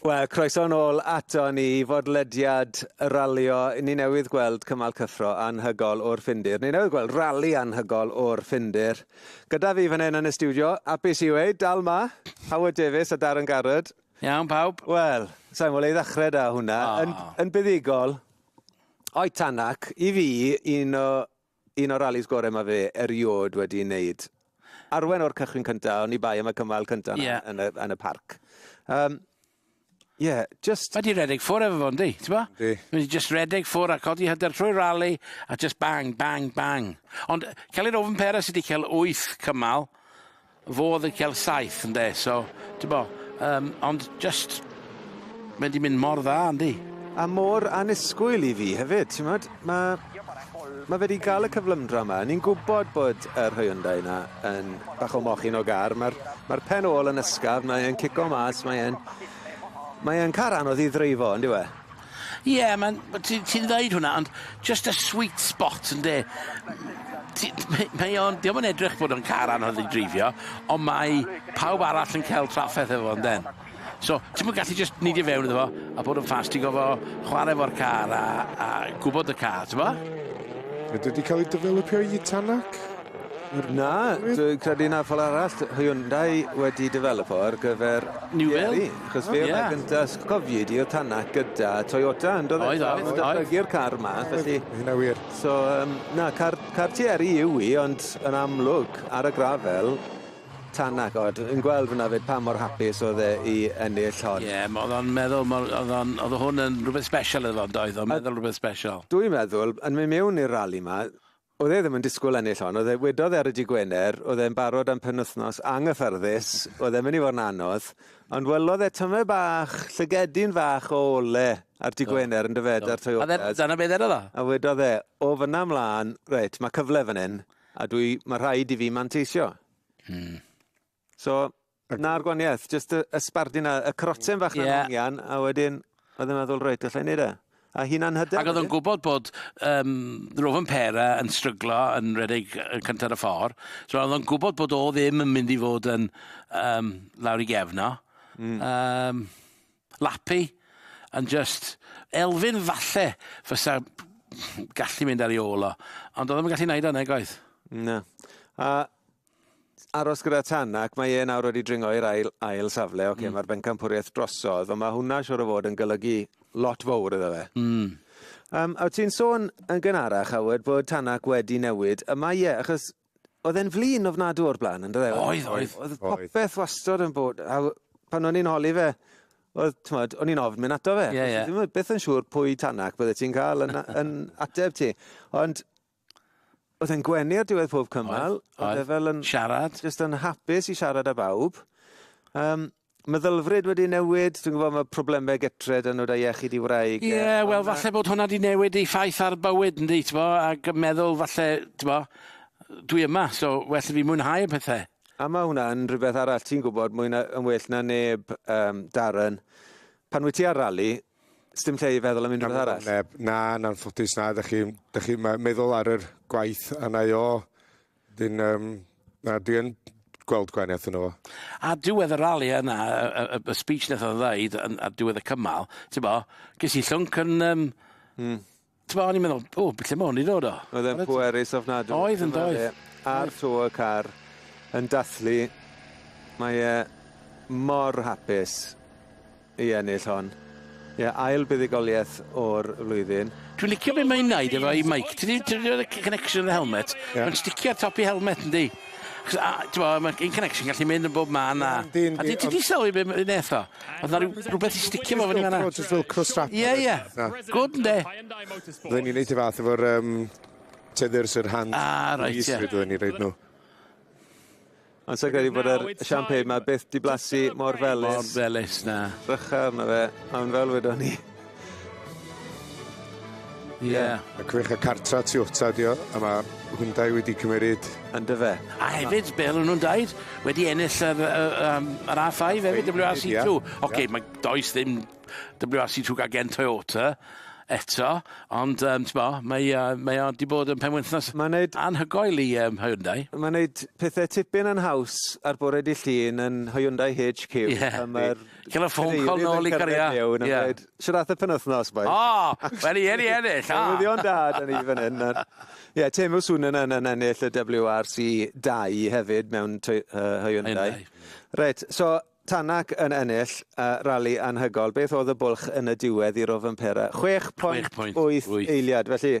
Wel, croeso nôl ato ni i fodlediad y ralio. Ni newydd gweld cymal cyffro anhygol o'r Ffindir. Ni newydd gweld rali anhygol o'r Ffindir. Gyda fi fan hyn yn y studio, apus i wei, dal ma, Howard Davies a Darren Garrod. Iawn, pawb. Wel, sa'n mwyn ei ddechrau da hwnna. Oh. Yn, yn buddigol, o'i tanac, i fi, un o Un o'r ralis gorau mae fe erioed wedi ei wneud. Arwen o'r cychwyn cyntaf, o'n i bai am y cymal cyntaf yna yeah. yn, y, yn y parc. Um, yeah, just... Mae di redeg ffwr efo fo, ynddi? Ti'n bo? Di. Mae di just redeg ffwr a codi hyder trwy rali a just bang, bang, bang. Ond Celyn Ofen Pera sydd wedi cael 8 cymal, Fo oedd yn cael saith ynde so t'bo yym ond jyst mae 'di mynd mor dda yndi? A mor annisgwyl i fi hefyd t'mod ma' ma' fe 'di ga'l y cyflymdra 'ma ni'n gwbod bod yr Hyundai 'na yn bach o mochyn o gar ma'r ma'r pen ôl yn ysgafn mae e'n cico mas mae e'n mae e'n car anodd i ddreifo on'd yw e? Ie ma'n ma' ti ti'n ddeud hwnna ond jyst y sweet spot ynde? Ti mae mae o'n dio'm yn edrych bod o'n car anodd i dreifio on' mae pawb arall yn ca'l trafferth efo fo ynden? So ti'm yn gallu jyst neidio fewn iddo fo a bod yn fast ti go'fo' chware efo'r car a a gwbod y car t'mo'? Ydi o 'di ca'l 'i dyfelypio i Tanac? Na, dwi'n credu na fel arall Hyundai wedi dyfelypo ar gyfer... New Will. Achos fe oedd gynta os cofio di oedd Tanak gyda Toyota yn do fe? Oedd oedd. Oedd oedd. Oedd car ma felly. Oedd hynna wir. So yym na car car Thierry yw i ond yn amlwg ar y grafel Tanak o dwi'n gweld fynna fyd pa mor hapus oedd e i ennill hon. Ie ma' o'dd o'n meddwl ma' o'dd o'n o'dd hwn yn rwbeth sbesial iddo fo yndoedd o'n meddwl rwbeth sbesial. Dwi'n meddwl yn myn' miwn i'r rali ma' Oedd e ddim yn disgwyl ennill hon, oedd e, wedodd e ar y Dydd Gwener, oedd e'n barod am penwythnos anghyffyrddus, oedd e'n mynd i fod yn anodd, ond welodd e tymed bach, llygedyn fach o ole ar Dydd Gwener yn dyfe, 'da'r Toyotas. A dyna be ddedodd o. A wedodd e, o fyna mlaen, reit, mae cyfle fan hyn, a dwi, mae rhaid i fi manteisio. Mm. So, 'na'r gwanieth, jyst y y sbardun a y croten fach 'na... Ie. ...yn hongian a wedyn oedd e'n meddwl reit allai neud e. A hunan hyder wedyn. Ag o'dd o'n gwbod bod yym Rovers Pera yn stryglo yn redeg yy cynta ar y ffor. So o'dd o'n gwbod bod o ddim yn mynd i fod yn yym lawr i gefn o. Hmm. Yym Lappy yn jyst Elfyn falle fysa gallu mynd ar 'i ôl o ond o'dd o'm yn gallu neud o nag oedd? Na. A aros gyda Tan ac mae e nawr wedi dringo i'r ail, ail safle. Oce, okay, mm. mae'r bencampwriaeth drosodd, ond mae hwnna siwr o fod yn golygu lot fawr iddo fe. Mm. Um, a ti'n sôn yn gynharach, Howard, bod Tanak wedi newid. Y mae e, achos oedd e'n flin ofnadw o'r blaen, ynddo fe? Oedd, oedd. Oedd popeth wastod yn bod... A pan o'n i'n holi fe, oedd, tmod, o'n i'n ofn mynd ato fe. Yeah, yeah. Ddim beth yn siŵr pwy Tanak bydde ti'n cael yn, yn ateb ti. Ond Oedd e'n gwenu ar diwedd pob cymal. Oedd, oedd. oedd e fel yn... Siarad. Just yn hapus i siarad â bawb. Um, meddylfryd wedi newid, dwi'n gwybod mae problemau getre dyn nhw da iechyd i wraig. Ie, yeah, wel falle bod hwnna wedi newid ei ffaith ar bywyd, ynddi, ti'n bo, ac meddwl falle, ti'n bo, dwi yma, so well i fi mwynhau y pethau. A mae hwnna'n rhywbeth arall, ti'n gwybod, mwy na, yn well na neb, um, Darren, pan wyt ti ar rali, Sdim lle i feddwl am unrhyw beth arall? Neb. Na, yn anffodus na. Dych chi'n chi meddwl ar yr gwaith a na i o. Dyn, um, na, dwi yn gweld gwahaniaeth yno fo. A diwedd y rali yna, y, y, y speech nath o'n ddeud, a diwedd y cymal, ti'n bo, ges i llwnc yn... Um, mm. T'bo' o'n i'n meddwl o b- lle ma' 'wn 'di dod o? Oedd e'n pwerus ofnadw. Oedd yn doedd? Ar to y car yn dathlu mae e mor hapus i ennill hon. Ie ail buddugolieth o'r flwyddyn. Dwi'n licio be' mae'n neud efo'i meic. Ti 'di ti 'di roid y c- connection yn y helmet? Ie. Mae'n sticio ar top 'i helmet yndi? Achos a- t'mo' ma'r in- connection gallu mynd yn bob man a... Yndi yndi ond... A ti ti 'di sylwi be' ma' 'i neth o? Oedd na rhyw- rhywbeth i sticio fo fyny fanna? Just fel cross strap. Ie, ie. Na. Good, ynde? Roedden ni'n neud y fath efo'r um, tethers, yr hand... Ah, reit, ie. Yeah. Roedden ni'n reid nhw. Ond sy'n credu bod yr champagne ma byth di blasu mor felus. Mor felus, na. Rycha arno fe, a mae'n fel wedon ni. Ie. Yeah. A gwych y cartra tu wta ydi o a ma' Hyundai wedi cymeryd... Yndyfe. A hefyd be' odden nw'n deud wedi ennill yr yy yym yr Are Five efyd Double-you Are See Two. Oce ma' does ddim Double-you Are See Two gan gen Toyota eto ond yym t'mo' mae yy mae o 'di bod yn penwythnos... Ma'n neud... ...anhygoel i yym Hyundai. Ma'n neud pethe tipyn yn haws ar bore dy' Llun yn Hyundai HQ... Ie. ...pan ma'r Cael y ffôn call nôl i Garia. Ie. Siwr ath y penwthnos, boys. O! Wel, i eri ennill, o! Newyddion da, da ni fan hyn. Ie, Temu Sunan yn ennill y WRC 2 hefyd mewn Hyundai. Reit, so Tanak yn ennill uh, rali anhygol. Beth oedd y bwlch yn y diwedd i Rofampera? 6 pwynt, 6 pwynt 8 eiliad, felly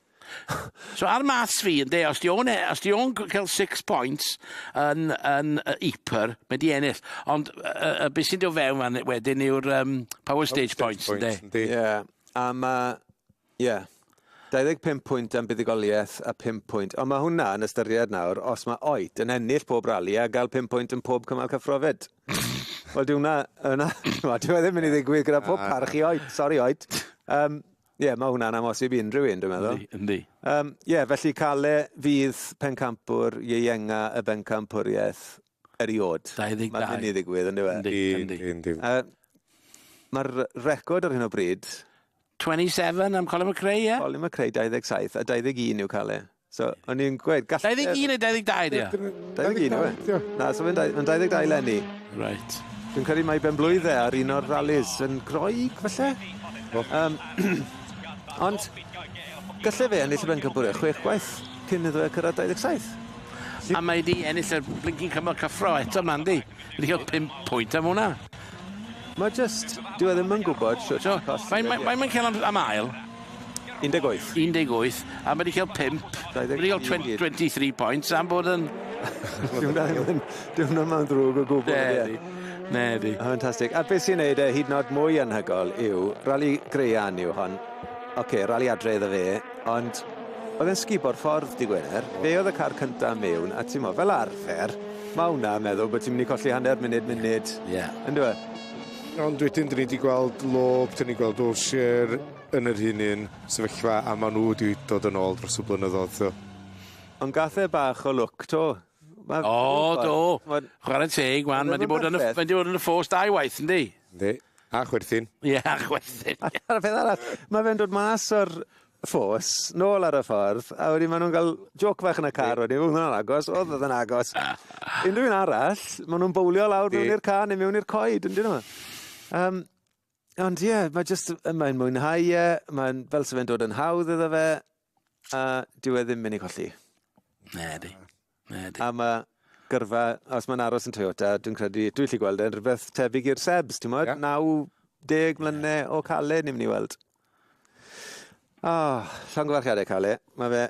So ar maths fi yn de, os di o'n, e- os di o'n cael six points yn, yn uh, Eaper, mae di ennill. Ond uh, uh, beth sy'n dod fewn fan wedyn yw'r um, power stage points yn de. Ie, yeah. a mae, ie. Yeah. 25 pwynt am buddigoliaeth a 5 pwynt. Ond mae hwnna yn ystyried nawr, os mae oed yn ennill pob rali a gael 5 pwynt yn pob cymal cyffrofed. Wel, di hwnna, yna, di hwnna ddim yn ei ddigwydd gyda pob parch i oed. Sorry, oed. Um, Ie, mae hwnna'n amhosib i unrhyw un, dwi'n meddwl. Yndi, yndi. Um, ie, felly Cale fydd pencampwr ieuenga y bencampwriaeth eriod. 22. Mae'n mynd i ddigwydd, ynddo fe? Yndi, yndi. yndi. Uh, Mae'r record ar hyn o bryd... 27 am Colin McRae, ie? Yeah? Colin McRae, 27, a 21 yw Cale. So, o'n i'n gweud, gall... 21 neu 22 ydi o? 21 yw e? Na, so fe'n dau- ma'n 22 eleni. Reit. Dwi'n credu mai ben-blwydd e ar un o'r rallies yn Groeg falle? O. Yym ond galle fe ennill y bencampwriaeth chwech gwaith cyn iddo fe cyrraedd 27. A mae 'di ennill y blinking cymal cyffro eto 'ma yndi? Wedi ca'l pump pwynt am wnna. Mae jyst... Dyw e ddim yn gwybod shwt i colli... Mae mae mae mae'n ca'l am am ail. 18. 18 a ma' 'di ca'l pump. Dau ddeg tri. Ma' 'di ca'l twen- twenty three points am bod yn... Dyw wnna ddim yn dyw wnna 'im yn ddrwg o gwbwl ydi e? Nadi. Nadi. Fantastic a be' sy'n neud e hyd yn o'd mwy anhygol yw rali graean yw hon Ok, rali adre iddo fe, ond oedd e'n sgubo'r ffordd, di Gwener. Fe oedd y car cynta mewn, a ti'n mo, fel arfer, mae hwnna yn meddwl bod ti'n mynd i colli hanner munud, munud, yeah. yn dwi? Ond wedyn, dyn ni wedi gweld Lob, dyn ni gweld Olsher yn yr un un sefyllfa, a maen nhw wedi dod yn ôl dros y blynyddoedd. So. Ond gathau e bach o lwc to, Ma'n O, briffordd. do. Ma'n- Chwarae teg, wan, Ma'n mae 'di bod yn y, ryfedd. mae 'di bod yn y ffos dau waith, yndi? Yndi. A chwerthin. Ie, a chwerthin. A'r peth arall, mae fe'n dod mas o'r ffos, nôl ar y ffordd, a wedyn maen nhw'n cael joc fach yn y car wedyn, oedd hwnna'n agos, oedd oedd yn agos. Unrhyw un arall, maen nhw'n bowlio lawr Yndi. mewn i'r car neu mewn i'r coed, yn dyn nhw? Um, ond ie, yeah, mae just, mae'n mwynhau e, mae'n fel se fe'n dod yn hawdd iddo fe, a dyw e ddim mynd i colli. Ne, di. Ne, di. A mae gyrfa, os mae'n aros yn Toyota, dwi'n credu, dwi'n lli gweld e'n rhywbeth tebyg i'r Sebs, ti'n modd? Yeah. 90 mlynau yeah. o Cale, ni'n mynd i weld. O, oh, llongyfarchiadau Cale. Mae fe,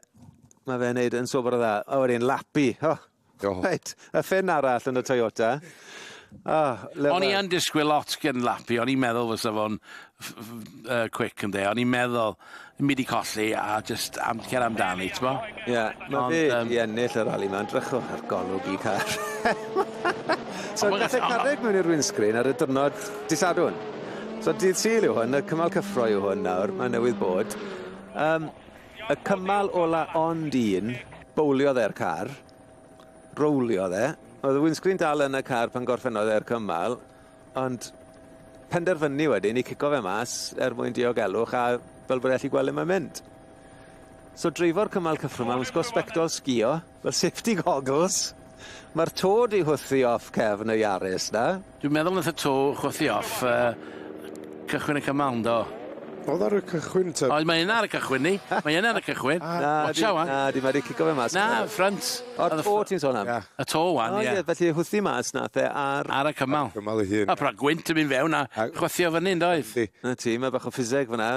mae fe'n neud yn sobr o dda. A wedyn, lapi. Oh, Oh. Reit, y ffin arall yn y Toyota. Oh, o'n i yn disgwyl lot gen Lapi, o'n i'n meddwl fysa fo'n uh, quick yn de, o'n i'n meddwl mi di colli a just am cer amdani, ti'n bo? Ie, yeah, mae fe um, i ennill y rali ma'n drychwch ar golwg i car. so, gath e carreg mewn i'r windscreen ar y dyrnod disadwn. So, dydd syl yw hwn, y cymal cyffro yw hwn nawr, mae newydd bod. Um, Y cymal ola ond un. Bowliodd e'r car. Rowliodd e. Oedd y windscreen dal yn y car pan gorffennodd e'r cymal, ond penderfynu wedyn i cico fe mas er mwyn diogelwch a fel bod e allu gweld le mae'n mynd. So dreifo'r cymal cyffro 'ma, wisgo sbectol sgïo, Wel safety goggles. Mae'r to di hwthi off cefn y Yaris na. Dwi'n meddwl nath y to chwythu off uh, cychwyn y cymal do. Oedd ar y cychwyn te? Oedd, mae yna ar y cychwyn ni. Mae yna ar y cychwyn. Na, Watcha wan. Na, di mae wedi cico fe mas. Na, ffrant. O, to ti'n sôn am? Y to wan, ie. Felly hwthi mas na the ar... Ar y cymal. Cymal ei hun. A pra gwynt yn mynd fewn a chwythio fyny, doedd? Na ti, mae bach o ffiseg fyna.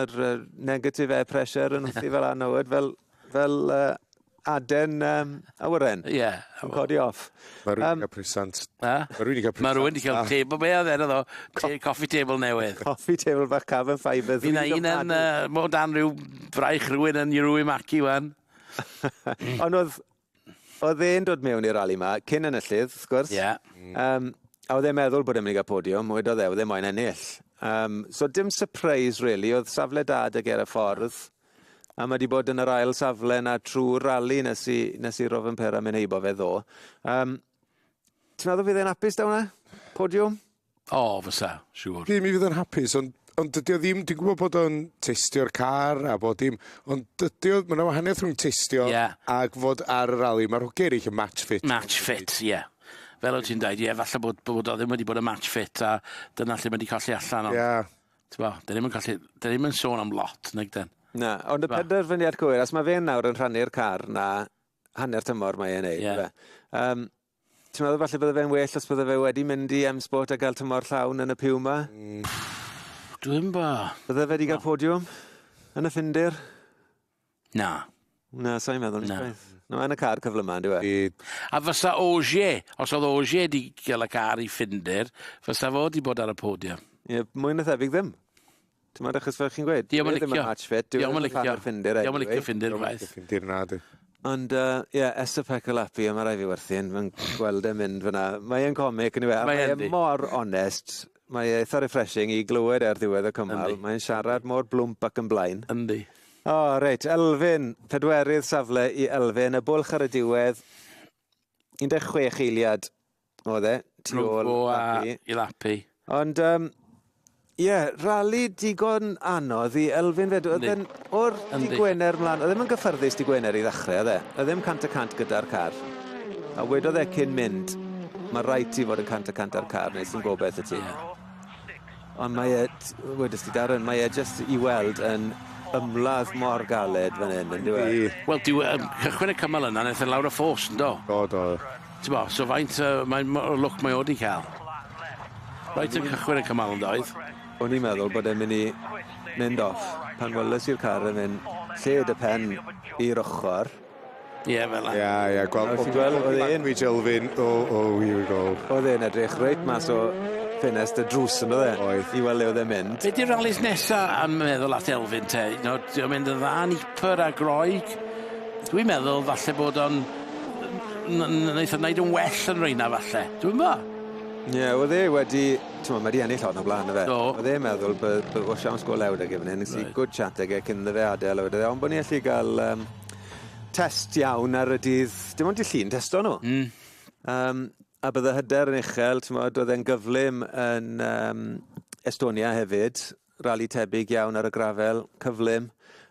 Negative air pressure yn hwthi fel anodd, fel, fel uh, Aden um, awyren. Ie. Yeah. Yn codi off. Mae rwy'n um, cael presant. Mae rwy'n cael presant. Mae rwy'n cael ah. table. Be oedd enw ddo? Coffee table newydd. Coffee table bach cafon ffaibr. Fy'n un yn uh, mo dan rhyw braich rwy'n yn Iru Maki wan. Ond oedd oedd e'n dod mewn i'r rali yma, cyn yn y llydd, wrth gwrs. Ie. Yeah. Um, a oedd e'n meddwl bod e'n mynd i gael podiwm, oedd oedd e, oedd e'n moyn ennill. Um, so dim surprise, really, oedd safle dad ag er y ffordd. a ma' 'di bod yn yr ail safle 'na trw'r rali nes i nes i Rovanpera myn' heibo fe ddo'. Yym. Ti'n meddwl fydd e'n apus 'da wnna? Podiwm? O, fysa, siŵr. Dim i fydd yn hapus, ond ond dydy o ddim, dwi'n gwybod bod o'n testio'r car a bod dim, ond dydy o, mae yna wahaniaeth rhwng testio yeah. ac fod ar y rali. Mae'r hogiau eraill yn match fit. Match fit, ie. Yeah. Fel o ti'n dweud, ie, yeah, falle bod, bod o ddim wedi bod yn match fit a dyna lle mae wedi colli allan. Ond... Yeah. T'bo, da ni'm yn gallu... Da ni'm yn sôn am lot, nag 'den? Na, ond y T'bo? penderfyniad cywir, os mae fe'n nawr yn rhannu'r car 'na hanner tymor mae e'n neud, Ie. Ie. Um, ti'n meddwl falle bydde fe'n well os bydde fe wedi mynd i M-Sport a gael tymor llawn yn y Puma? Mm. Dwi'm bo. Bydde fe wedi cael podiwm yn y Ffindir? Na. Na, sai'n meddwl nes gwaith. Na. Mae yn y car cyfle yma, ynddo e? A fysa Oje, os oedd Oje wedi cael y car i Ffinder, fysa fo wedi bod ar y podium. Ie, mwy na thebyg ddim. Ti'n meddwl, achos fel chi'n gweud, dwi ddim yn match fit, dwi ddim yn licio Ffinder anyway. Dwi ddim yn licio Ffinder gwaith. Ffinder na di. Ond, ie, uh, yeah, Esa Pecolapi, a mae rai fi werthu yn, mae'n gweld e'n mynd fyna. Mae'n comic, yn yw e? Mae'n mor onest. Mae eitha refreshing i glywed e ar ddiwedd y cymal. Yndi. Mae'n siarad mor blwmp ac yn blaen. Yndi. O, reit, Elfyn, pedwerydd safle i Elfyn, y bwlch ar y diwedd, 16 eiliad oedd e, tu Rhwng ôl fo a Lapi. i Lapi. Ond, um, ie, rali digon anodd i Elfyn fedw- oedd Yndi. e'n O'r dy' Gwener mlan, oedd e ddim yn gyffyrddus dy' Gwener i ddachre, oedd e? Oedd e ddim cant y cant gyda'r car. A wedodd e cyn mynd, mae rhaid ti fod yn cant y cant â'r car, neu sy'n gobeith y ti. Ond mae e, wedys ti Darren, mae e jyst i weld yn ymladd mor galed fan hyn, yn dweud. E? Wel, dyw um, cychwyn y cymal yna, wnaeth e lawr y ffos, yn do? Do, do. Ti'n bo, so faint uh, mae, o lwc mae o wedi cael. Rhaid yn cychwyn y cymal yn doedd? O'n i'n meddwl bod e'n mynd i mynd off pan weles i'r car yn mynd lled y pen i'r ochor. Ie fel 'a. Ia ia gwel- Nawr ti'n gweld o'dd e'n... ...language Elfyn o o here we go. O'dd e'n edrych reit mas o ffenest y drws on'd o'dd e? Oedd. I wel' le o'dd e'n mynd. Be' 'di'r ralis nesa am meddwl at Elfyn te? Nawr 'di o'n mynd yn dda yn Ypres a Groeg? Dwi'n meddwl falle bod o'n n- n- neith o neud yn well yn reina falle. Dwi'mbo. Ie o'dd e wedi t'mo' ma' 'di ennill hon o bla'n yfe? Do. Odd e'n meddwl by- by- o siawns go lew 'da gofyn e nes i good chat ag e cyn iddo fe adel a wedodd e on' bo' ni allu ga'l yym test iawn ar y dydd dim ond dy' Llun testo nw. Hmm. Yym a bydde hyder yn uchel t'mod o'dd e'n gyflym yn yym Estonia hefyd rali tebyg iawn ar y grafel, cyflym.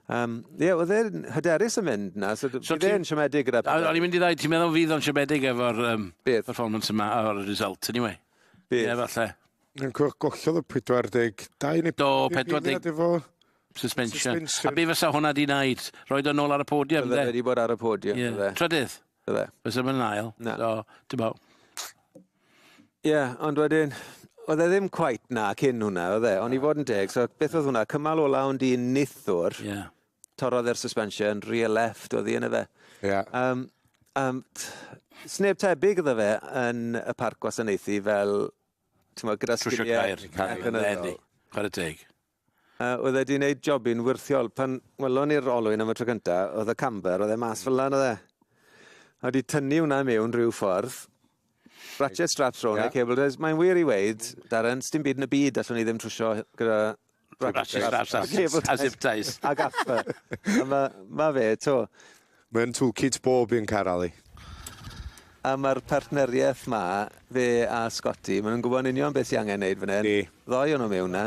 Um, ie, oedd e'n hyderus yn mynd na, so, so bydd e'n siomedig gyda pethau. O'n i'n mynd i ddau, ti'n meddwl fydd o'n siomedig efo'r um, performance yma o'r result, anyway? Bydd. Ie, falle. Yn cwrdd gollodd y 42 neu... Do, 40 efo suspension. suspension. A be fysa hwnna di wneud? Roed o'n ôl ar y podium, dde? Bydde wedi bod ar y podium, yeah. dde. Trydydd? Bydde. Bysa fe'n ail. Na. So, ti'n bo. Ie, yeah, ond wedyn, oedd e ddim cwait na cyn hwnna, oedd e? Ond i fod yn deg, so beth oedd hwnna? Cymal ola ond un nithwr. Ie. Yeah. Torodd e'r suspension, rear left oedd hi yn y fe. Ie. Yeah. Um, um, sneb tebyg oedd fe yn y parc gwasanaethu fel, ti'n bod, gyda sgiliau. Trwsio gair. Ac yn y... Chwarae teg. A oedd e wedi gwneud jobyn wirthiol. Pan welon ni'r olwyn am y tro cynta, oedd y camber, oedd e mas fel yna, oedd e? A wedi tynnu hwnna mewn rhyw ffordd. Ratchet straps rhwng yeah. neu cable ties. Mae'n wir i weid, Darren, sdim byd yn y byd allwn ni ddim trwsio gyda ratchet straps a cable ties. A zip ties. A gaffa. Mae ma fe, to. Mae yn toolkit bob un car Ali. A mae'r partneriaeth 'ma, fe a Scotty, maen nhw'n gwybod yn union beth sy'n angen wneud fan hyn. Yndi. Ddoi o'n nhw mewn 'na.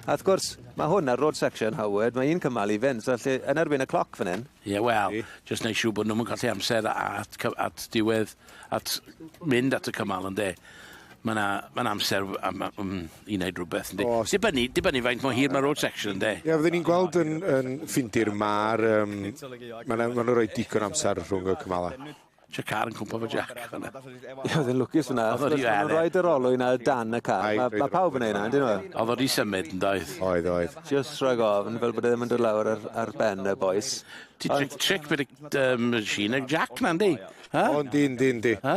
A wrth gwrs, mae hwn ar road section, Howard, mae un cymal i fynd, so lle, yn erbyn y cloc fan hyn. Ie, wel... Yndi. ...jyst wneud siŵr bod nhw'm yn colli amser at cy- at diwedd at mynd at y cymal ynde. Mae yna ma amser am, am, i wneud rhywbeth ynde. Os... Dibynnu, dibynnu faint mor hir mae road section ynde. Ie, fydden ni'n gweld yn, yn ffindir mae'r... Um, mae yna ma rhoi digon amser rhwng y cymalau. Ti'n car yn cwmpa fo Jack. Ie, oedd yn lwcus fyna. Oedd yn rhoi yr olwyn ar dan y car. Mae ma pawb yn ei wneud yna, dyn nhw? Oedd wedi symud yn doedd. Oedd, oedd. Just rhoi gofn fel bod e ddim yn dod lawr ar, ar ben y boes. Ti'n tric beth y machine Jack na, ynddi? Ha? Ond dyn, dyn, dyn. Ha?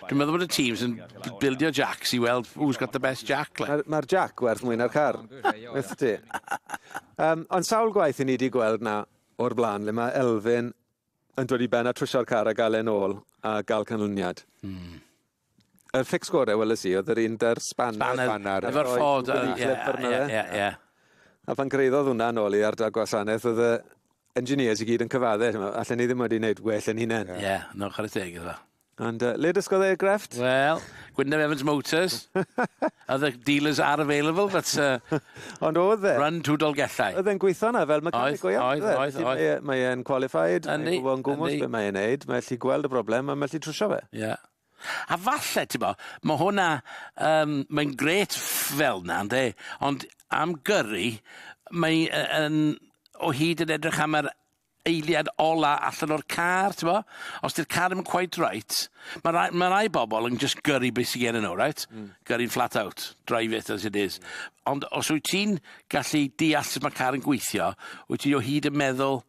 Dwi'n meddwl bod y teams yn bildio jacks i weld who's got the best jack. Mae'r ma jack werth mwy na'r car. Wyth ti. Um, ond sawl gwaith i ni wedi gweld na o'r blaen le mae Elfyn yn dod i ben a trwysio'r car a gael e'n ôl a gael canlyniad. Hmm. Yr fix gore weles i oedd yr un da'r spanner spanner efo'r ffod ie ie ie. A pan gyraeddodd hwnna nôl i ardal gwasanaeth oedd y engineers i gyd yn cyfadde t'mo' allen ni ddim wedi neud well yn hunen. Ie no chware teg iddo. Ond yy le dysgodd e ei grefft? Wel Gwynne Evans Motors. Other dealers are available but uh... Ond o'dd e... Run to Dolgellau. O'dd e'n gweitho 'na fel mechanic go iawn on'd oedd? Oedd oedd oedd. Mae e mae e'n qualified. Yndi yndi. Mae'n gwbo yn gwmws be' mae e'n neud mae ellu gweld y broblem a ma' ellu trwsio fe. Ie. A falle, t'bo', ma' hwnna yym mae'n grêt ff- fel 'na ynde, ond am gyrru mae yy yn o hyd yn edrych am yr eiliad ola allan o'r car t'bo'? Os 'di'r car 'im cweit reit ma' rai ma' rai bobol yn jyst gyrru be' sy gennyn nw reit? Hmm. Gyrru'n flat out, drive it as it is. Ond os wyt ti'n gallu deall sut ma' car yn gweithio, wyt ti o hyd yn meddwl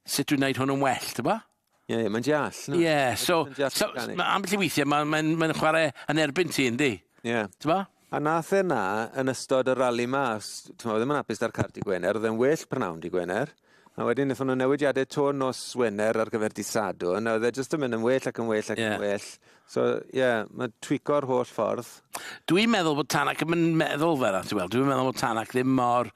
sut dwi'n neud hwn yn well t'bo'? Ie, ie, mae'n deall. Ie, yeah, so, so ma, ambell i weithiau mae'n ma, ma, ma chwarae yn erbyn ti, yndi? Ie. Yeah. Ti'n ba? A nath e na yn ystod y rali ma, ti'n ma, ddim yn apus da'r cart i Gwener, oedd e'n well prynhawn di Gwener. A wedyn wnaethon nhw newidiadau to nos Wener ar gyfer di Sadwn, a oedd e jyst yn mynd yn well ac yn well ac yeah. yn well. So, ie, mae twico'r holl ffordd. Dwi'n meddwl bod Tanak yn meddwl fel yna, ti'n gweld. Dwi'n meddwl bod Tanak ddim mor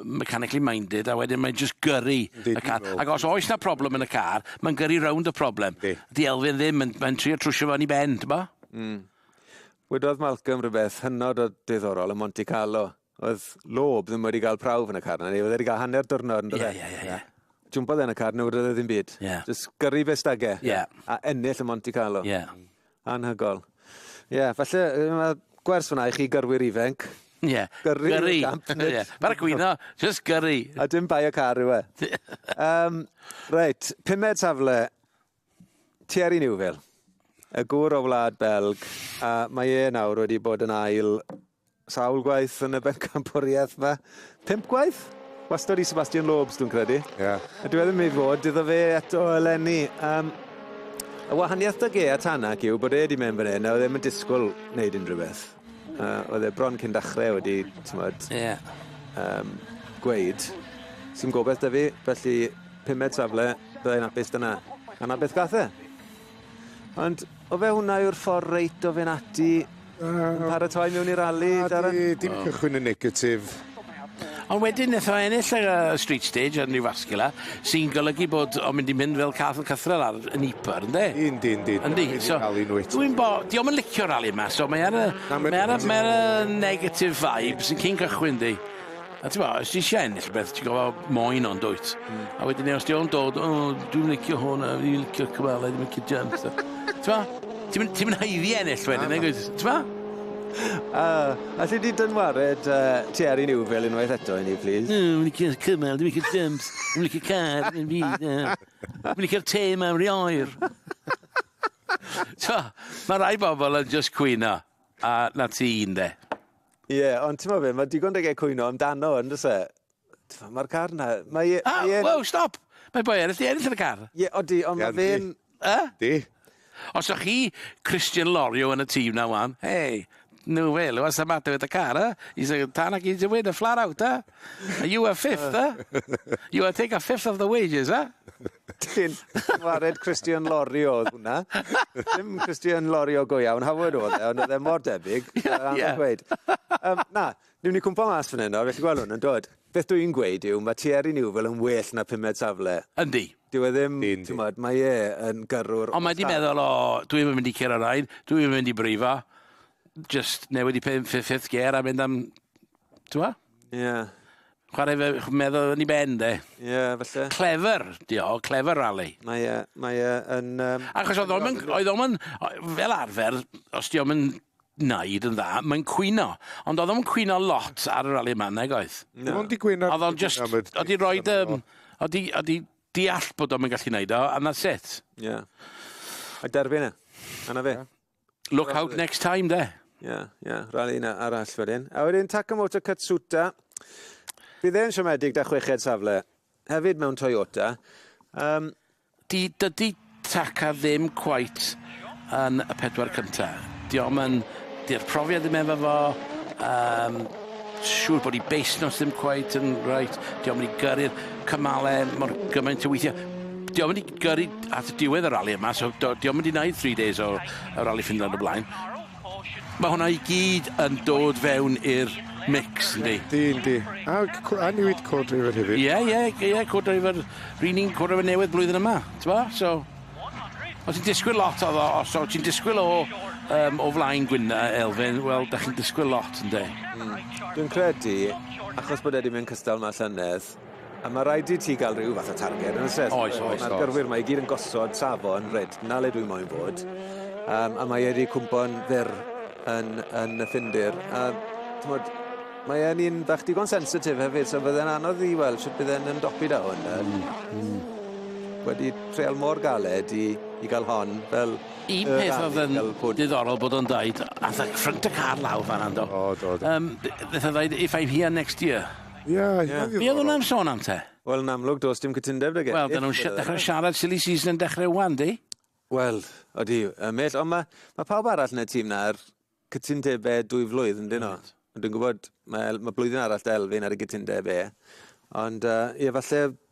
mechanically minded, a wedyn mae'n just gyrru y car. Ac os oes na problem yn y car, mae'n gyrru rownd y problem. Di Elfyn ddim, mae'n mae trio trwsio fan i ben, ti'n bo? Mm. Wedodd Malcolm rhywbeth hynod o diddorol yn Monte Carlo. oedd lob ddim wedi cael prawf yn y car na ni. Oedd wedi cael hanner diwrnod yn dydde. Ie, ie, ie. ie. Jwmpodd e yn y car, nhw roedd e ddim byd. Yeah. Just gyrru fe stage. Yeah. A ennill y Monte Carlo. Yeah. Anhygol. Ie, yeah, falle mae gwers fyna i chi gyrwyr ifanc. Ie. Yeah. Gyrru. Gyrru. yeah. Bara gwyno, just gyrru. A dim bai y car yw e. um, reit, pumed safle Thierry Neuville, y gŵr o wlad Belg, a mae e nawr wedi bod yn ail sawl gwaith yn y bencampwriaeth yma. Pimp gwaith? Wastod i Sebastian Lobes, dwi'n credu. Ie. Yeah. A dwi e ddim ei fod, iddo fe eto eleni. Um, y wahaniaeth da ge a Tanak yw bod e wedi mynd fan hyn a oedd ddim yn disgwyl wneud unrhyw beth. Yy oedd e bron cyn dachre wedi t'mod... Ie. ...yym gweud sdim gobeth 'dy fi felly pumed safle bydda i'n apus dyna a 'na beth gath e. Ond o fe hwnna yw'r ffor reit o fyn' ati... Yy. ...paratoi mewn i rali Darren? Dim cychwyn yn negatif. Ond wedyn nath o ennill y yy street stage yn Newfascular sy'n golygu bod o'n mynd i mynd fel cath yn cythrel ar yn Ypar ynde? Yndi yndi. Yndi so dwi'n bo- dio'm yn licio'r rali 'ma so mae ar y mae ar y mae ar y negative vibes yn cyn cychwyn yndi? A t'mo' os ti isie ennill rwbeth ti gor'o' moyn o yndwyt? Hmm. A wedyn 'ny os di o'n dod o dwi'm licio hwn a fi licio cyfale dwi'm licio jumps a t'mo'? Ti'm yn ti'm yn haeddu ennill wedyn nagwyt? T'mo'? A, alli di dynwared yy Thierry Neuville unwaith eto i ni plîs? O, fi'n licio'r cymal, dwi'n licio'r jumps, dwi'n licio'r car, yn fi, Dwi'n licio'r te yma, ry oer. T'mo', ma' rai bobl yn jyst cwyno, a 'na ti ynde. Ie, ond t'mo' be', ma' digon 'da fe cwyno amdano yndos e? T'mo' ma'r car 'na mae e mae e'n... Woah stop! Mae boi eryll 'di ennill yn y car. Ie odi ond ma' fe'n... Yy? Di. Os o'ch chi Christian Lorio yn y tîm 'na ŵan, hey, no way Lewis, what's the matter with the car, huh? He's a Tanak, he's a winner flat out, huh? And you a fifth, huh? You a take a fifth of the wages, huh? Ti'n wared Christian Lorio oedd hwnna. Dim Christian Lorio go iawn, Howard oedd e, ond oedd e mor debyg. Ie, ie. Um, na, Newn ni cwmpo mas fan 'yn nawr, felly gwelwn, yn dod. Beth dw i'n gweud yw, mae Thierry Neuville yn well na pumed safle. Yndi. Dyw e ddim, t'mod, mae e yn gyrrwr o Ond mae 'di meddwl, o, dw i'm yn mynd i curo rain, dw i'm yn mynd i brifo, jyst newid i pum- ffi- fifth gear a mynd am, t'mo'? Ie. Chware fe ch- meddwl yn 'i ben 'de. Ie, falle. Clever 'di o, clever rally. Mae e, mae e yn yym... Achos oedd o'm yn oedd o'm yn o- fel arfer, os 'di o'm yn wneud yn dda, mae'n cwyno. Ond oedd o'm yn cwyno lot ar y rali yma, nag oedd? Na. Dim ond di cwyno... Oedd o'n just... Oedd i roed... Oedd i, oedd i deall bod o'n mynd gallu wneud o, and that's it. Ie. Yeah. A derfyn e. Yna fe. Look out next time, de. Ie, yeah, ie. Yeah. Rali yna arall wedyn. A wedyn Takamoto Katsuta. Bydd e'n siomedig da chweched safle. Hefyd mewn Toyota. Um, Di, dydi Taka ddim cweit yn y pedwar cynta. Diom yn... Di'r profiad ddim efo fo, um, siŵr bod i beis nos ddim cweit yn reit, diom yn i gyrru'r cymale mor gymaint o weithio. Diom yn i gyrru at y diwedd y rali yma, so diom yn i wneud 3 days o, o rali ffindo yn y blaen. Mae hwnna i gyd yn dod fewn i'r mix yndi? Yndi yndi. A c- a newid co-driver hefyd. Ie ie g- ie co-driver ry'n ni'n co-driver newydd blwyddyn yma t'mo' so o' ti'n disgwyl lot o o so o' ti'n disgwyl o yym o flaen gwyn- yy Elfyn wel 'dach chi'n disgwyl lot ynde? Hmm. Dwi'n credu achos bod e 'di mynd cystal ma' llynedd A ma' raid i ti ga'l ryw fath o targed on'd o's e? Oes oes oes. Ma'r gyrwyr 'ma i gyd yn gosod safon reit 'na le dwi moyn fod yym a mae e 'di cwmpo'n fyr yn yn y Ffindir a t'mod mae e'n un bach digon sensitif hefyd so fydde'n anodd i weld shwt bydd e'n ymdopi 'da hwn nawr. Hmm hmm. Wedi treial mor galed i i ga'l hon fel yy rali fel hwn. Un peth o'dd yn diddorol bod o'n deud ath y ffrynt y car lawr fan 'na yndo? O do do. Yym b- beth o'dd ddeud if I'm here next year. Ie, eitha ddiddorol. Be oedden nhw'n sôn am te? Wel, yn amlwg, does dim cytundeb 'da Gethin. Wel, dyn nhw'n dechrau siarad silly season yn dechrau wan, yndi? Wel, odi, y mell, ond mae ma pawb arall yn y tîm na ar cytundebau dwy flwydd, yn dyn nhw. Dwi'n gwybod, mae, mae blwyddyn arall da Elfyn ar y gytundeb e. Ond, uh, ie, falle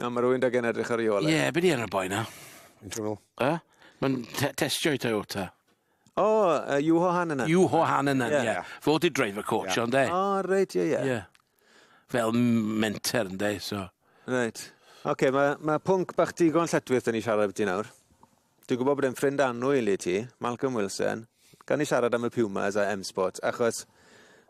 Na ma' rywun 'da gen edrych ar 'i ôl e. Ie be' 'di enw'r boi 'na? Fi'n siŵr o. Yy? Ma'n te- testio i Toyota. O yy Juho Hänninen. Juho Hänninen ie. Ie ie. Fo 'di driver coach o ynde? O reit ie ie. Ie. Fel m- menter ynde so. Reit. Oce ma' ma' pwnc bach digon lletchwith 'da ni siarad ambyty nawr. Dwi'n gwybod bod e'n ffrind annwyl i ti, Malcolm Wilson. Gawn ni siarad am y Pumas a M-Sport, achos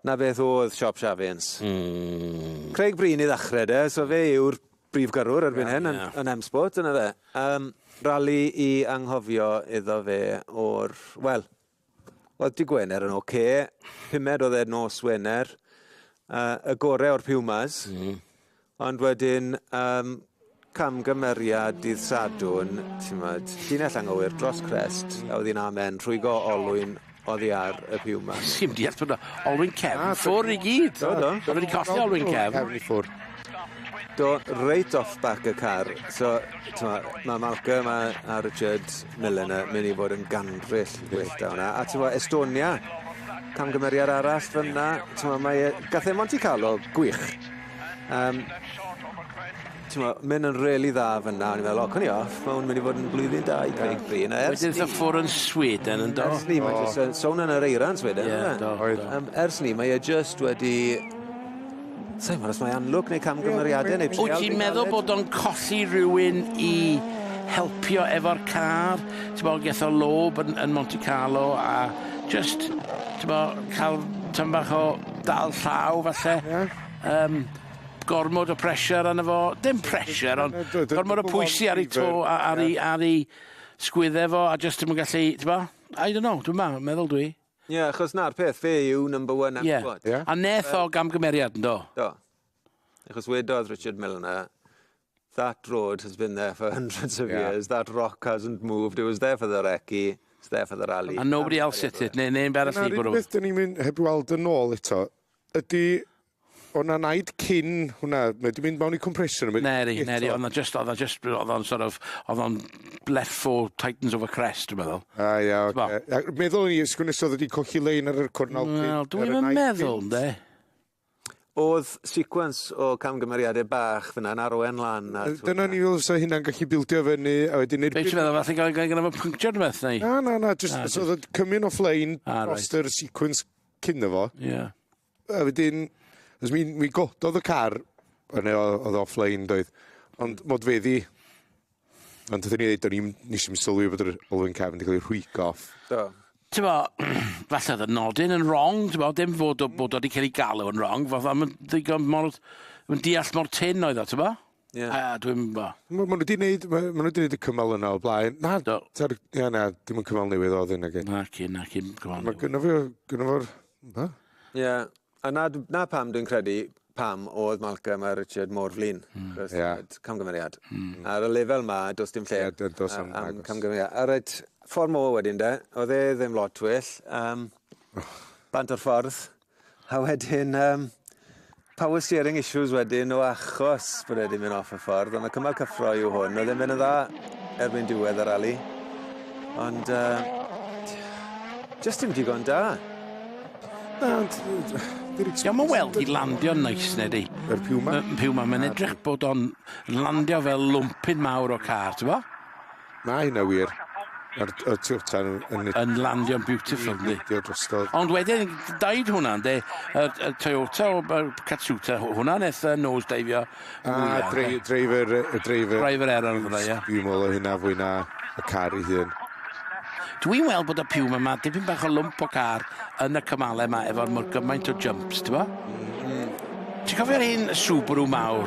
'na beth o'dd Siop Shafians. Mm. Craig Breen i ddachre de, so fe yw'r brif gyrrwr erbyn hyn yn yn M-Sport, dyna fe. Yym, rali i anghofio iddo fe o'r, wel, Oedd dy Gwener yn oce. Pumed oedd e nos Wener. Uh, y gore o'r Pumas. Mm. Ond wedyn, um, camgymeriad dydd Sadwn, ti'n modd, llinell anghywir dros crest, a oedd hi'n amen, rhwygo olwyn oddi ar y Pumas. Sim diall bod olwyn cefn ah, ffwr i gyd. Do, do. Do wedi colli olwyn cefn. Cefn i ffwr. Do, reit off back y car. So, mae Malcolm a, a Richard Millen yn mynd i fod yn gandryll well da hwnna. A ti'n Estonia, camgymeriad arall fyna, ti'n mae e, gath e Monte Carlo, gwych. Um, ti'n meddwl, mynd yn really dda fyna, o'n i'n meddwl, o, cwn i off, mae hwn mynd i fod yn blwyddyn da i Craig Bryn. Ers ni... Wedyn ffwr yn Sweden yn do. Ers ni, mae'n just yn sôn yn yr eiran Sweden. Ie, do. Ers ni, mae e just wedi Sai'n gwybod os mae amlwg neu camgymeriadau neu trial... Wyt ti'n meddwl bod o'n colli rhywun i helpio efo'r car? T'bo' geth o lob yn yn Monte Carlo a jyst t'bo' ca'l tym bach o dal llaw falle. Ie. Yym gormod o pressure arno fo. Dim pressure ond gormod o pwysi ar 'i to a ar 'i ar 'i sgwydde fo a jyst dim yn gallu t'bo'? I don't know dwi meddwl dwi. Ie, achos 'na'r peth, fe yw number one Ie, Apple Watch. a neth o gamgymeriad, yndo? Do. Achos wedodd Richard Milner, That road has been there for hundreds of Ie. years, that rock hasn't moved, it was there for the recce, it's there for the rally. And nobody else hit it, neu neb arall wedi bwrw. Dyna 'r unig beth 'dyn ni'n mynd heb weld yn ôl eto, ydy O' 'na naid cyn hwnna mae 'di mynd mewn i compression a ma'... Nary nary o' 'na jyst o'dd o jyst o'dd o'n sort of o'dd o'n blethu tightens of a crest dwi'n meddwl. A ia oce. T'bo'? Yy meddwl o'n i os gwn i 's o'dd o 'di colli lein ar yr cornel cyn... Wel dwi'm yn meddwl 'nde. O'dd sequence o camgymeriade bach fyn 'na yn arwain lan at... Dyna o'n i feddwl fysa hynna'n gallu bildio fyny a wedyn i'r... Be' ti feddwl fatha gai- gai- gynno fo pynctiad ne' beth neu? Na na na jyst os o'dd o'n cymun o fflein... A reit. ...drost yr sequence cyn 'no fo. Ia. A wedyn achos mi mi gododd y car o' 'ne o- o'dd o offline doedd ond modfeddi ond wrthyn ni ddeud do'n i'm nesh i'm sylwi bod yr olwyn cefn wedi ca'l 'i rhwygo off. Do. T'mo' falle o'dd y nodyn yn rong t'mo' dim fod o bod o 'di ca'l 'i galw yn rong fatha ma'n ddigon mor ma'n deall mor tynn oedd o t'mo'? Ie. A dwi'm yn bo. Ma' ma' nw 'di neud ma' ma' nw 'di neud y cymal yna o'r blaen. Na. Do. T'od ie na dim yn cymal newydd odd hyn nage? Naci naci 'im cymal newydd. Ma' gynno fi o gynno fo'r be? Ie. A 'na dw- 'na pam dwi'n credu pam odd Malcolm a Richard mor flin. Hmm. 'C'os Ie. t'od camgymeriad. Hmm. Ar y lefel 'ma do's dim lle... Ie do- do's na'm agos. ...yy am camgymeriad. A reit ffor 'mô wedyn 'de odd e ddim lot well yym bant o'r ffordd. A wedyn, um, power steering issues wedyn o achos bod wedi mynd off y ffordd, ond y cymal cyffro yw hwn. Oedd e'n mynd yn dda erbyn diwedd yr ali. Ond, uh, just dim digon da. Na, ond... Diolch yn weld i landio nice, neu di. Yr piw ma? Piw ma, mae'n edrych bod o'n landio fel lwmpyn mawr o car, ti'n bo? Ma hynna wir. Ma'r y tu allan yn yn nid- Yn landio'n beautiful yndi? Dio drostodd. Ond wedyn daid hwnna ynde? Y y Toyota o yy Katsuta hw- hwnna neth yy nose diveio A mwya. ynde? dre- driver y driver Driver error fydda ia. Dwi'n meddwl o hynna fwy na y car ei hun. Dwi'n weld bod y Puma yma dipyn bach o lwmp o car yn y cymale yma efo'r mor gymaint o jumps t'bo? Ti'n cofio'r un Subaru mawr?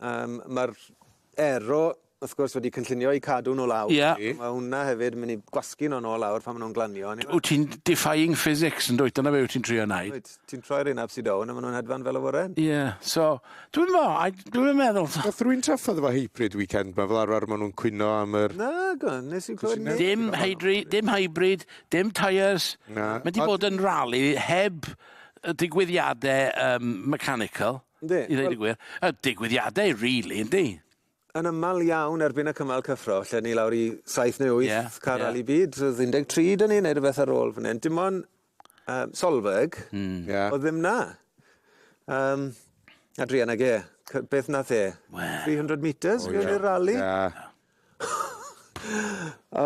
Um, Mae'r ero wrth gwrs wedi cynllunio i cadw nhw lawr. Yeah. Mae hwnna hefyd yn mynd i gwasgu nhw'n ôl lawr pan maen nhw'n glanio. Wyt ti'n defying physics yn dweud, dyna fe wyt ti'n trio wneud. Wyt, ti'n troi'r un absi down a maen nhw'n hedfan fel y foren. Ie, yeah. so, dwi'n mo, dwi'n meddwl... Nath rwy'n traffodd efo hybrid weekend ma, fel arfer maen nhw'n cwyno am yr... Na, go, nes i'n clywed neb. Dim hybrid, dim hybrid, dim tyres. Na. Mae di bod yn rali heb digwyddiadau um, mechanical. Yndi. I ddweud y gwir. A digwyddiadau, really, yndi? Yn aml iawn erbyn y cymal cyffro, lle ni lawr i saith neu wyth yeah, car yeah. rally byd, roedd 13 dyn ni, neu rhywbeth ar ôl fan hyn. Dim ond um, Solberg, mm. yeah. oedd ddim na. Um, Adrian ag e, beth nath e? Well. 300 metres, oh, yeah. rally? Yeah. O!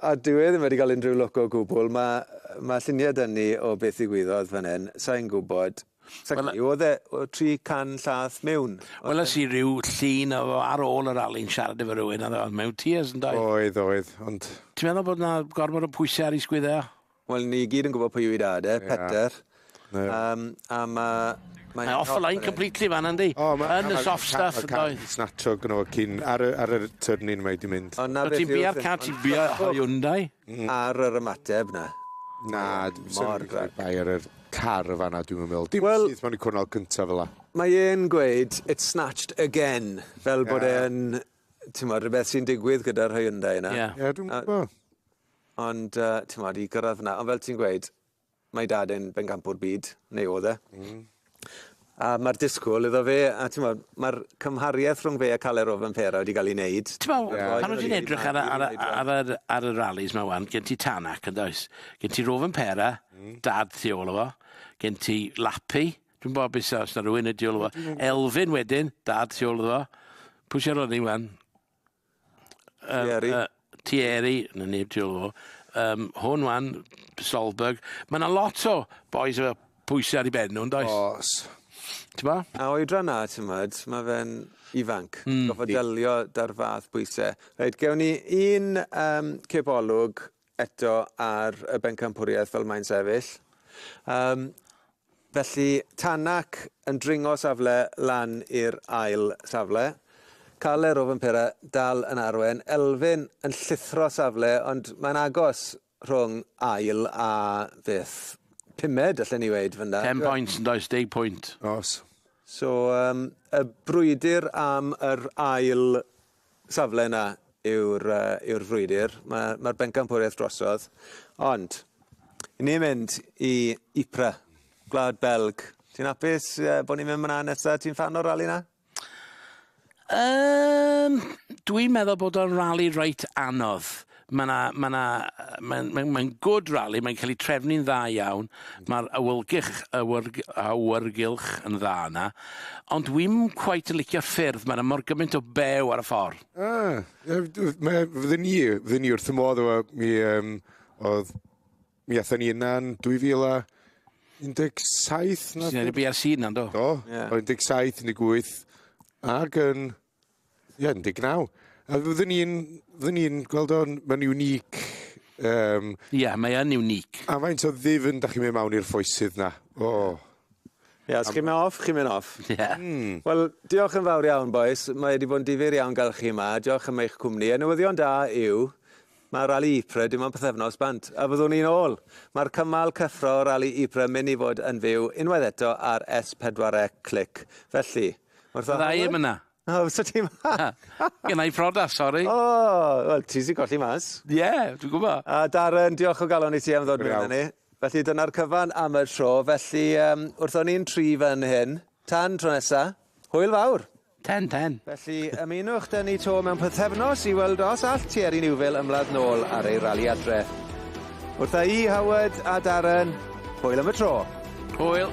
A dyw e ddim wedi cael unrhyw lwc o gwbwl. Ma' yy ma' llunie 'da ni o beth ddigwyddodd fan 'yn. Sai'n gwbod. Sa- Wel yy... Odd e o- tri can llath mewn. Weles i ryw llun o fo ar ôl y rali'n siarad efo rywun a o'dd o mewn tears yndoedd? Oedd oedd ond... Ti'n meddwl bod 'na gormod o pwyse ar 'i sgwydde o? Wel ni gyd yn gwbo pwy yw 'i dad e, Peter. Ie. Yym a ma' mae... Mae off the line completely fan 'na yndi? O ma'... Yn y soft stuff yn doedd? Ma'n snatcho gynno fo cyn ar y ar yr turning mae 'di mynd. O 'na beth yw... Ti'n bia'r car ti'n bia Hyundai. Ar yr ymateb 'na. Na dwi'm yn meddwl bod e'n bia'r yr car yn fan 'na dwi'm yn meddwl. Dim syth mewn i'r cwrnal cynta fel 'a. Mae e'n gweud it's snatched again fel bod e yn t'mod rwbeth sy'n digwydd gyda'r Hyundai 'na. Ie. Ie dwi'm yn gwbo. Ond, uh, ti'n modd, i gyrraedd fyna. Ond fel ti'n gweud, mae dad yn bencampwr byd, neu oedd e. Mm. A mae'r disgwyl iddo fe, a ti'n modd, mae'r cymhariaeth rhwng fe a Caler o Fanpera wedi cael ei wneud. Ti'n modd, yeah. pan ti'n edrych ar, ar, ar, ar, ar y rallies mae wan, gen ti Tanak yn does. Gen ti Rovan Pera, mm. dad ti ôl o fo. Gen ti Lapi, dwi'n bod beth os na rhywun ydi ôl o fo. Elfyn wedyn, dad ti ôl o fo. Pwy sy'n rhoi ni wan? Yym... Thierry. ...yy Thierry 'na neb tu ôl iddo fo yym hwn ŵan Solberg ma' 'na lot o bois efo pwyse ar 'u ben n'w yndoes? O's. T'mo'? A oedran 'na t'mod ma' fe'n ifanc. Hmm. Gorffod delio 'da'r fath bwyse. Reit gewn ni un yym cipolwg eto ar y bencampwriaeth fel mae'n sefyll. Um, felly, Tanak yn dringo safle lan i'r ail safle. Cael er o Fympera dal yn arwen. Elfyn yn llithro safle, ond mae'n agos rhwng ail a beth. Pumed, allan ni weid, fynda. 10 pwynt yn does, 10 pwynt. Os. So, um, y brwydr am yr ail safle yna yw'r yy yw'r frwydr. Ma' ma'r bencampwriaeth drosodd. Ond i ni mynd i Ypres, gwlad Belg. Ti'n apus yy bo' ni'n mynd myn 'na nesa? Ti'n ffan o'r rali 'na? Yym dwi'n meddwl bod o'n rali reit anodd. Mae 'na, mae 'na, yy mae'n mae'n mae'n good rally, mae'n cael ei trefnu'n dda iawn, mae'r awylgych awyrg- awyrgylch yn dda yna, ond dwi'm cweit yn licio'r ffyrdd, mae 'na mor gymaint o bew ar y ffordd. Ah, yy, dw- mae... fydden ni, fydden ni wrth y modd efo mi yym o'dd mi athon ni yna'n 2017 na Sy'n neud y BRC yna, yndo? Do. Ie. O 17, 18 ag yn Ie, 19. A fyddwn ni'n fyddwn ni'n gweld o'n mae'n unique um... Ie, yeah, mae yn unique. A faint o ddifn da chi'n mynd mawn i'r ffoesydd na? O. Oh. Ie, yeah, os chi'n mynd off, chi'n mynd off. Ie. Yeah. Mm. Wel, diolch yn fawr iawn, boys. Mae wedi bod yn difyr iawn gael chi yma. Diolch am eich cwmni. A newyddion da yw, Mae Rali Ypres dim ond pythefnos bant a fyddwn ni'n ôl! Mae'r cymal cyffro Rali Ypres yn mynd i fod yn fyw unwaith eto ar S4C Clic, felly, wrth y Fydda i ddim yna! O, fysa ti 'ma? Na, genna i priodas, sori! O! Wel, ti sy'n colli mas. Ie, dwi'n gwbo! A Darren, diolch o galon i ti am ddod miwn â ni. Felly, dyna'r cyfan am y tro, felly, wrth o'n ni'n tri fan hyn, tan tro nesa, hwyl fawr! Ten, ten. Felly, ymunwch dŷ ni 'to mewn pythefnos i weld os all Thierry Neuville ymladd nôl ar ei rali adre. Wrtha i, Howard a Darren, hwyl am y tro. Hwyl.